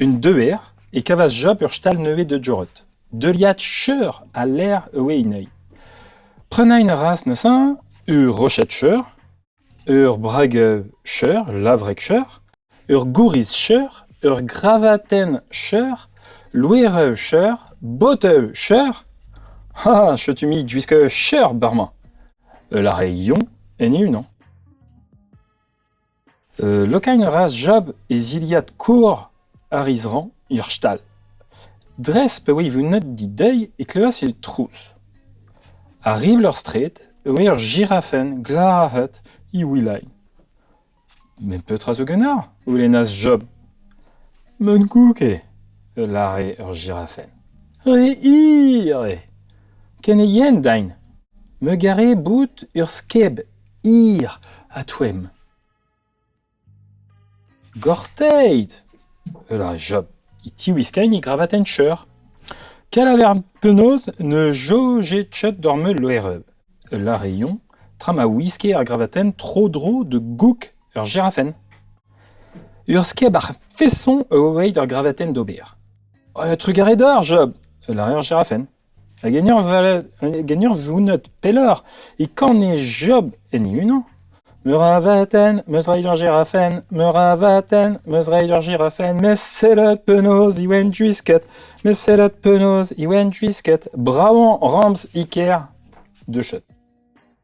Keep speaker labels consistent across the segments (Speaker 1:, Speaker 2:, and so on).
Speaker 1: Un deuer e kavas Job ur stal nevez da Jorod. Deuliad cheur ha ler e oe anezhi. Prenañ a ras neuze ur roched-cheur, ur brag-cheur, lavreg-cheur, ur gouriz-cheur, ur gravatenn-cheur, loereu-cheur, botev-cheur. Ha chutu-mik gwisk cheur bar-mañ. E lare Yon en e-unan. Lokaén a ras Job e zilhad kor ar izrañ er stal. Dres pa oe vunnet dideuil e klevas e trouz. Ar ribl er straed e oe ur jirafenn glac'het he wilailh. Met petra zo ganeoc'h? goulennas Job. M'on kouke, a lâre ur jirafenn. Re hir eo. Ken eo yen din. Me gare bout ur skeb Hir ha toemm. Gorteit! E ra Job e tiwiskay e gravatenn-cheur. Kel a ver penaos ne jojje Chot d'ur meul loereb. Ul lare-yon, tra ma wiske ar gravatenn tro-dro da goug ur jerafenn. Ur skebac'h feson a oa bet ar gravatenn d'ober. Un trugarez deoc'h, Job! a lare ar jerafenn. A genurzhvunut pelloc'h e kane Job en e-unan ? Meur a abadenn 'm eus roet ur giraffenn, meur a abadenn 'm eus roet ur giraffenn, met sellet penaos e oent gwisket, met sellet penaos e oent gwisket, brav on ramz e kêr ! Duchet.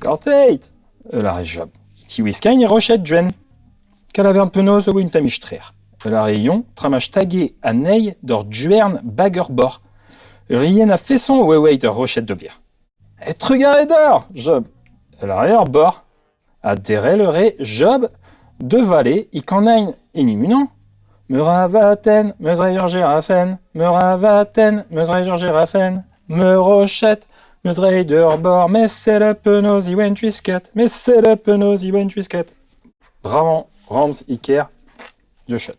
Speaker 1: Gorteit! a lâre Job, e tiwiskagn e roched, Gwenn. Kalavern penaos a oa un tammig trec'h, a lâre Yon, tra ma stage anezhi d'ur gwern bag ur boc'h. Ur ien a-feson a oa eweit ur roched d'ober. E trugarez deoc'h, Job, a lâre ar boc'h. Adderell a rae Job da vale e Kanin Inimon. Meur a vatenn, meus rae ur jerafenn. Meur a vatenn, meus rae ur jerafenn. Meur roched, meus rae d'ur bor. Mes sell penaos e oent gwisket. Mes sell penaos e oent gwisket. Bremañ, Ramz Iker, The Shot.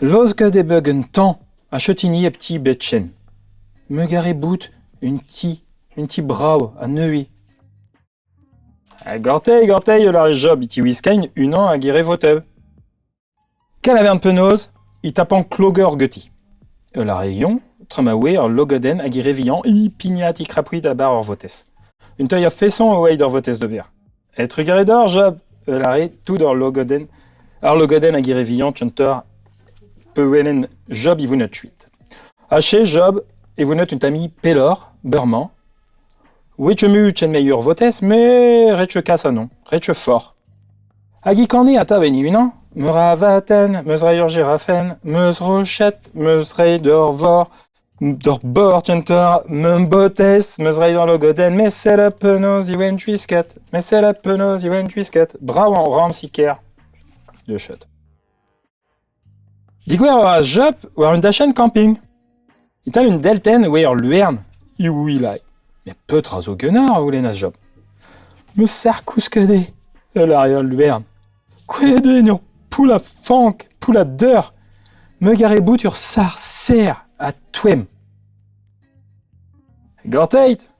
Speaker 1: Laosket eo bet un tamm a cheutini hep ti Betchen. Mugare bout un ti, un ti brav ha neuze. Ha gortez, gortez, e lâre Job, e tiwiskaint unan hag e re votev. Kel a vern penaos, e tapan klogeur geti. E lâre Yon, tra ma oe ur logadenn hag e re vihan, e pignat e krapouit a-bar ur votez. Un tailh a-feson e oa d'ur votez d'ober. E-trugarez deoc'h, Job, eu lâret tout ur logodenn, ar logodenn hag ire vihan Tchunter peurwelen Job ivounet kuit. Ache, Job, ivounet un tammig pelloc'h, beurmañ. Ouiet mu chen meilleur votez, me ret kas anon, ret fort. Hag i kani atav en unan, meus ra vatenn, meus ra ur girafen, meus roched, meus reiñ d'ur vor, D'ur bord un tor meumbotez 'meus roet ar logodenn met sell penaos e oen gwisket met sell penaos e oen gwisket brav ramzi ker de chat. Digouer a ra Jup war un dachenn kamping. E-tal un deltenn e oa ur luern, iwilai. Met petra zo ganeoc'h a oulennas Job. Me serr kousket eo, ul ar eo al luern. Kouezhet eo en ur poull a fank, poull a deur, meugaret bout ur sac'h serr ha toemm. Gorteit!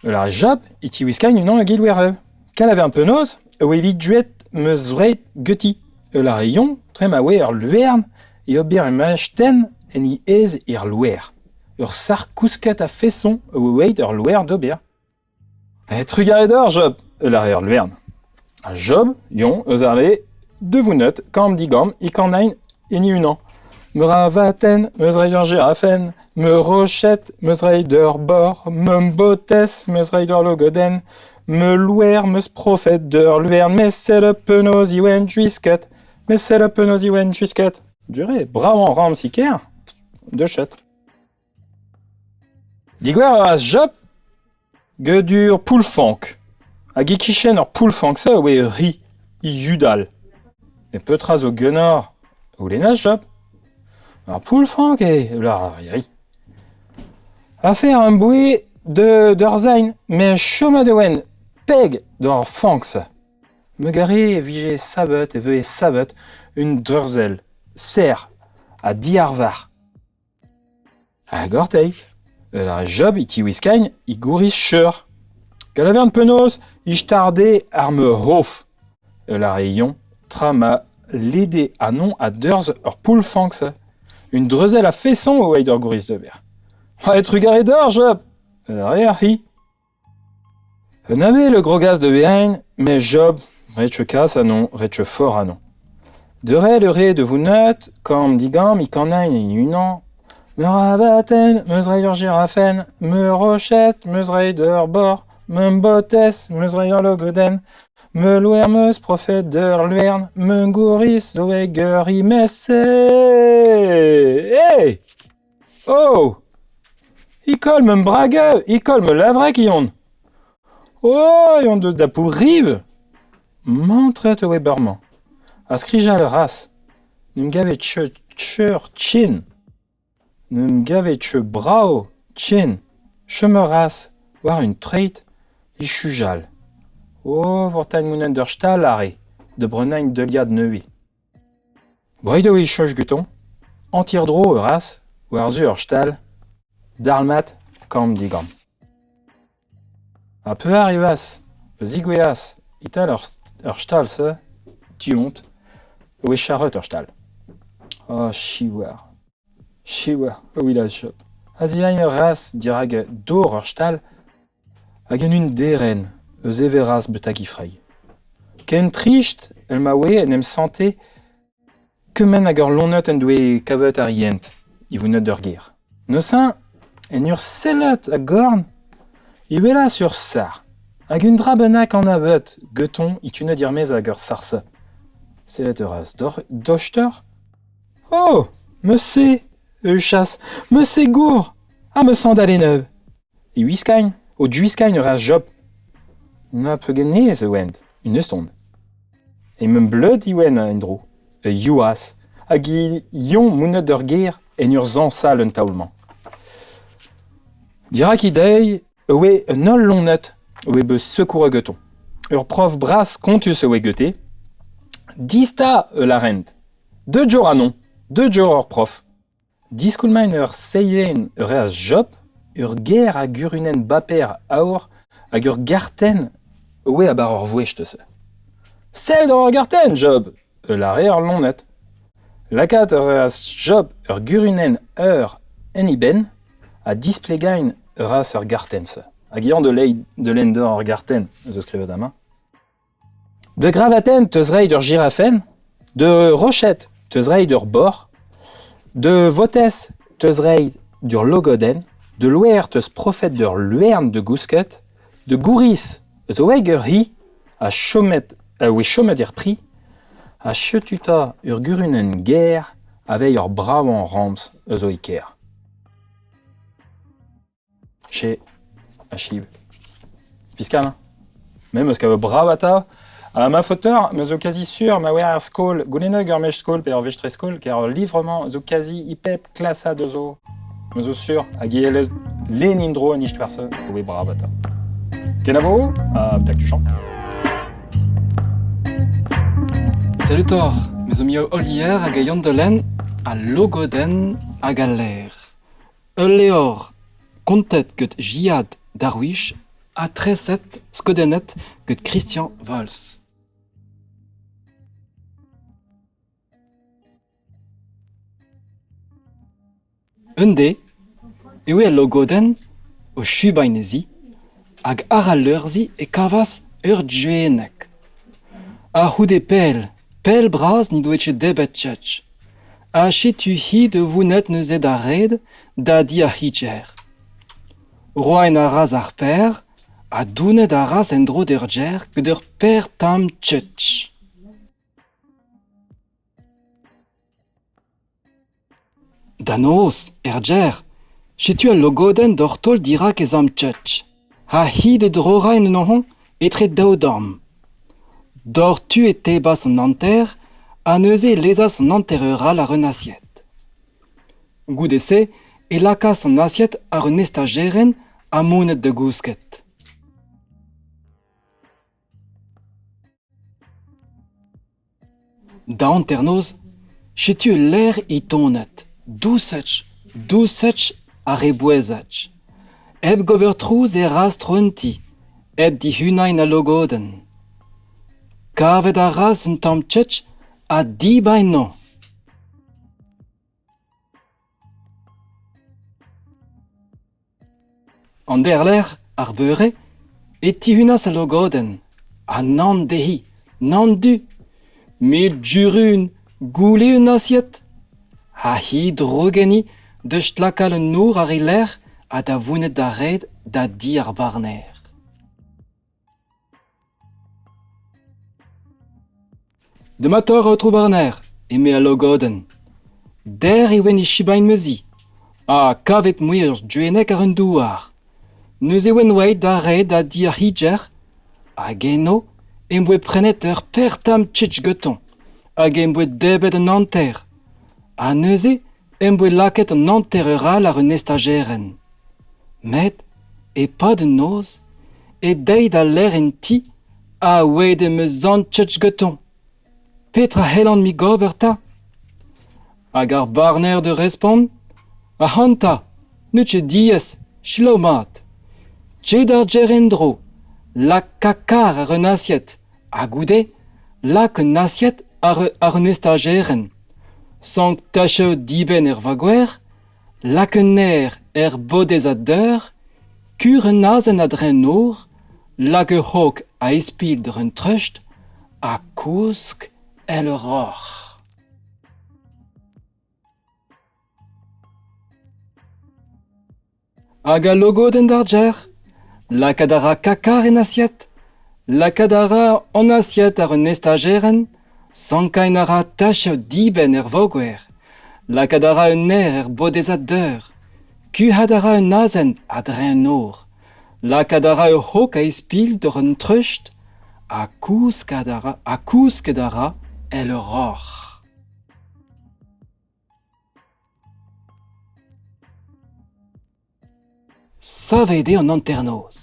Speaker 1: Ul ar jab e tiwiskagn unan ag Ilwerv. Kanaver un penaos e oa evit duet meus wraet geuti. Ul ar yon dre ma oa ur lwern e ober em astenn en he aez er loer. Ur sac'h kousket a-feson e oa eweit ur loer d'ober. Trugarez deoc'h, Job, e lâre an Vern. Ha Job, Yon, eus arle Deux vounneut, kamm digamm, i kanain hini unan. Meur a vaten, meus rei ur girafen, me rochet, meus rei d'ur bor, me botez, meus rei d'ur logoden, me louer, meus profet d'ur luvern, me sell penaos iwen juisket, me sell penaos iwen juisket. Duré, brav an ramz ker, de chet. Digor a ras Job gedur Poull-Fank, hag e-kichen ur poull-fank-se e oe ur ri, yudal. Met petra zo ganeoc'h a c'houlennas Job. Ar poull-fank eo, e lar ar ri. Afer am boe d'ur zain, met chomet e oen peg d'ar fank-se. Me gare e vije sabeut, e veue sabeut, un dreuzel, serr ha diarvar. Ha gorteiz, eus ar job e tiwiskagn he gouriz cheur. Gant a vern penaos he starde ar meur hof. Eus ar re yoñ, tra ma lede anon a-deurz ur poull-fanks. Un dreuzell a-feson o oeit ur gouriz d'ober. Va eo trugarez deoc'h, job! Eus ar re ar c'hi. Un avel a grogas da vihanañ met Job, ret cheu kas anezhañ, ret cheu for anezhañ. Deurel a rae da vounneud, kamm digammiñ kannaenn e-unan. Meur a abadenn, 'meus reiñ ur girafenn, meur a roched, 'meus reiñ d'ur bor, ma botez, 'meus reiñ ur logodenn, ma loer 'meus profet d'ur lwern, ma gouriz zo ag ur rimez. Hey! Oh ! Ikoll ma brageu, ikoll ma levreg on. Oh, on deus dapoù riv ! Mantret eo bremañ. Ha skrijañ a ras. N'em gavet cheu cheur tchen. N'em gavet cheu brav tchen. Chom a ras war un treid ichujal. Oh, vortagn mounañ d'ur stal are, da brenañ un deuliad nevez. Bremañ eo e cheñch gantañ hanter-dro ur c'has war-zu ur stal dalc'hmat kamm-digamm. Ha pevar evaz a zigouezhas e-tal ar stal-se tu-hont e oe charret ur stal. Oh, siwazh, siwazh, ewid a jop. A-ziagnour a ras dirak dor ar stal Hag en un derenn eus Everaz betek he freid. Ken trist èl ma oe en em sante kement hag ur lonnad en doe kavet ar yent ivounet d'ur gêr. Neuze, en ur sellout a-gorn, e welas ur sac'h hag un dra bennak anavet getoñ itunet er-maez hag ur sarse. Sellet a ras doc'h- dochtor. O ! Me se, Euchas, me se gour, ha me sañdal e neuv. E wiskañ o diwiskañ a reas Job. Na pegen aes e oent, un euston. E mem bleud Iwen en-dro, e Yoaz, hag he yon mounet d'ur gêr en ur zañsal un taol-mañ. Dirak he deiz e oe un holl loened a oe bet sekouret gantoñ. Ur prof bras kontus a oe gete. Dista e larent. Deu dior anon, deu dior ur prof. Diskoulmañ ur seilenn, ur c'hazh Job, ur ger hag urunenn baper aour hag ur gartenn o vezañ war ur vouezh neuze. Sell doc'h ur gartenn, Job! a lâre ar loened. Lakaat ur c'hazh Job ur gurunenn eur en e benn ha displegañ a ra ur gartenn-se. Hag eñ da lenn doc'h ar gartenn, ez eus skrivet amañ. Da gravatenn 'teus reiñ ur jirafenn, da roched 'teus reiñ ur boc'h, da votez 'teus reiñ d'ur logodenn, da loer 'teus profet d'ur lwern da gousket, da gouriz zo aet ur c'hi ha chomet a voe chomet er pri, ha setu 'ta ur gurunenn gaer aveit ur bravañ ramz a zo e kêr. Che, achib. Fiskal hein. Me 'meus kavet brav atav. Ha ma faoteur, 'meus zo kazi sur ma oer er skol. Goulennet ur mech skol pe ur vestrez-skol, ker ur livr-mañ zo kazi e pep klasad eus zo. Me zo sur hag e ellet len in-dro an istor-se e oe brav atav. Kenavo, ha betak tu champ.
Speaker 2: Salut Thor, me zo miou Olier hag a Yann Delen, ha Logoden hag al Laer. Ul levr kontet gant Gilad Darwich ha treset skeudennet gant Christian Valls. Un dez eo al logodenn o chubainezi hag àr al leur-se e kavas ur juenneg. A-c'houde pell, pell bras n'he doa ket debet Judge. Ha setu-hi da vounnet neuze d'ar red da di ar c'hicher. Roaen a ras ar paer ha dounet a ras en-dro d'ur gêr gant ur paer tamm tchetch. Da noz, er gêr, setu al logodenn doc'h taol dirak e zamm tchetch. Ha hi da drorañ en un hañv etre daou dorn. Doc'htu e tebas an hanter ha neuze e lezas an hanter-eur all àr un asied. Goude-se e lakaas an asied àr un estajerenn ha monet da gousket. Da hanternoz, setu ul lec'h é tonet dousach, dousach ar rebouezhaj, hep gober trouz e rastr un ti, hep dihunañ na logodenn. Kavet a ras un tamm tchetch ha dibaenn-mañ. An derlec'h, ar beure, e tihunas al logodenn. Ha nann dezhi, nann du. Met Jurun, goude un asied, ha he drogenni da stlakal an nor àr he lerc'h ha da vouned da red da di ar barner. Dematoc'h eo tro Barner, eme al logodenn. Der e oen e Shibain meuzi, ha kavet mouezh duennek àr un douar. Neuze e oen oaet da red da di ar c'higer, hag eno em boa prenet ur per tamm tchitch getoñ, hag em boa debet an hanter. Ha neuze em boa lakaet an hanter-eur all àr un estajerenn. Met, e-pad an noz, e deiz da lec'h en ti, aweet em eus sanchez gantañ. Petra c'hellan-mi gober 'ta ? Hag ar barner da respont, ac'hanta, n'eus ket diaes, selaou mat. Te d'ar gêr en-dro, laka kar àr un asied, Ha goude lak un asied àr un estajerenn, sanktachañ dibenn er vagoer, lak un naer er bodez a-deur, kur un azen a-dreñv nor, lak ur c'hog a-ispilh d'ur treust ha kousk èl ur roc'h. Hag al logodenn d'ar gêr ? Lakaat a ra Kakar en asied ? Lakaat a ra an asied àr un estajerenn ? Sankaén a ra tachioù dibenn er voger ? Lakaat a ra un naer er bodezad deur ? Kuc'hat a ra un azen a-dreñv un nor ? Lakaat a ra ur c'hog a-ispilh doc'h un treust ? Ha kousket a ra èl ur roc'h. Savet eo an hanternoz.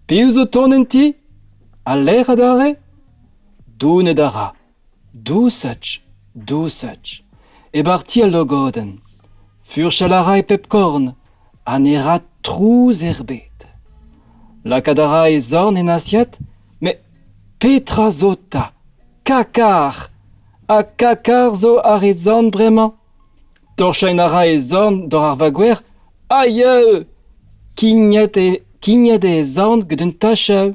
Speaker 2: Piv zo tont en ti? Ha lec'h adarre? Donet a ra. Dousach, dousach. E barti al logodenn. Furchal a ra e pep korn. Ha ne ra trouz erbet. Lakaat a ra e zorn en asiat, met petra zo 'ta? Kakar! Ha kakar zo àr e zorn bremañ ? Torchañ a ra e zorn doc'h ar vagouer aio ! Kignet eo kignet eo e zorn gant un tachav.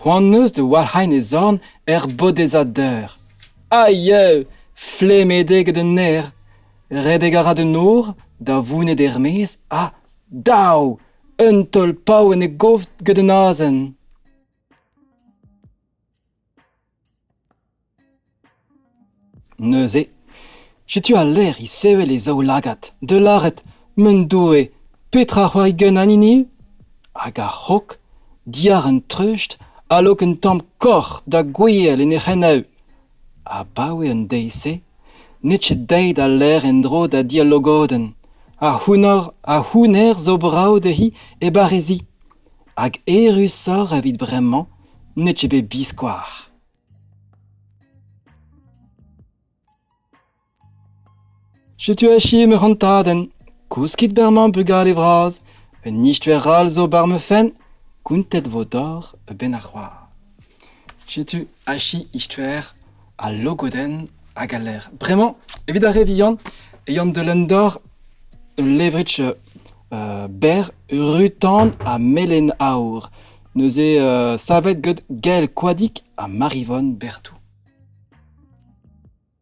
Speaker 2: C'hoant 'neus da walc'hañ e zorn er bodezad deur. Aio ! Flemet eo gant un naer. Redek a ra d'un nor da vouned er-maez ha dav ! Eun taol paour en e gof gant eun azen. Neuze, setu al lec'h isevel e zaoulagad, da lâret m'en doe petra c'hoari gant an hini hag ar c'hok diàr an treust a-raok un tamm koc'h da gouel en he c'henev, Abaoe an deiz-se n'eo ket aet al lec'h en-dro da dialogodenn. Ar c'hounnar ar c'houner zo brav dezhi e barrezi. Hag erusoc'h evit bremañ n'eo ket bet biskoazh. Setu achu ma c'hontadenn. Kouskit berr-mañ bugale vras. Un istuer all zo bar ma fenn. Kountet vo doc'h a-benn ar c'hoar. Setu achu istuer al logodenn hag al lec'h. Bremañ, evit ar re vihan, e an deulenn doc'h ul levrig euh, berr, rutan ha melen aour. Neuze euh, savet get Gael Koadig ha Marivonne Berthou.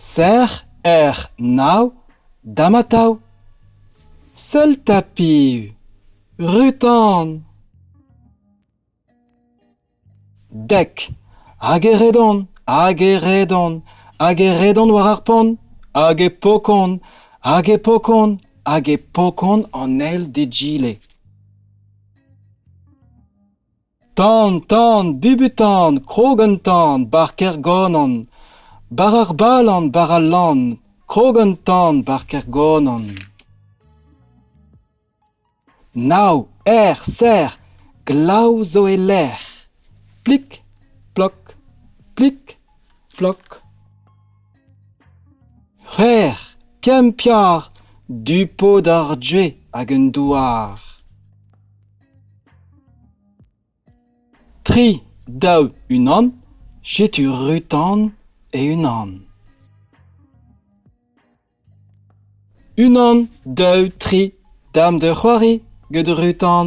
Speaker 2: Sec'h ec'h nav da'm atav. Sell 'ta piv, Rutan. Dek hag e redon, hag e redon, hag e redon war ar pont, hag e pokon, hag e pokon, hag e pokon an eil d'egile. Tan, tan, bubutan, krog an tan, bar Kergonan, bar ar Balan, bar al Lann, krog an tan, bar Kergonan. Nav, er, ser, glav zo e-lec'h. Plik, plok, plik, plok. C'hwer, kempiar, du pod ar due hag un douar. Tri, daou, unan, setu rutan e-unan. Unan, daou, tri, dam da c'hoari gant rutan.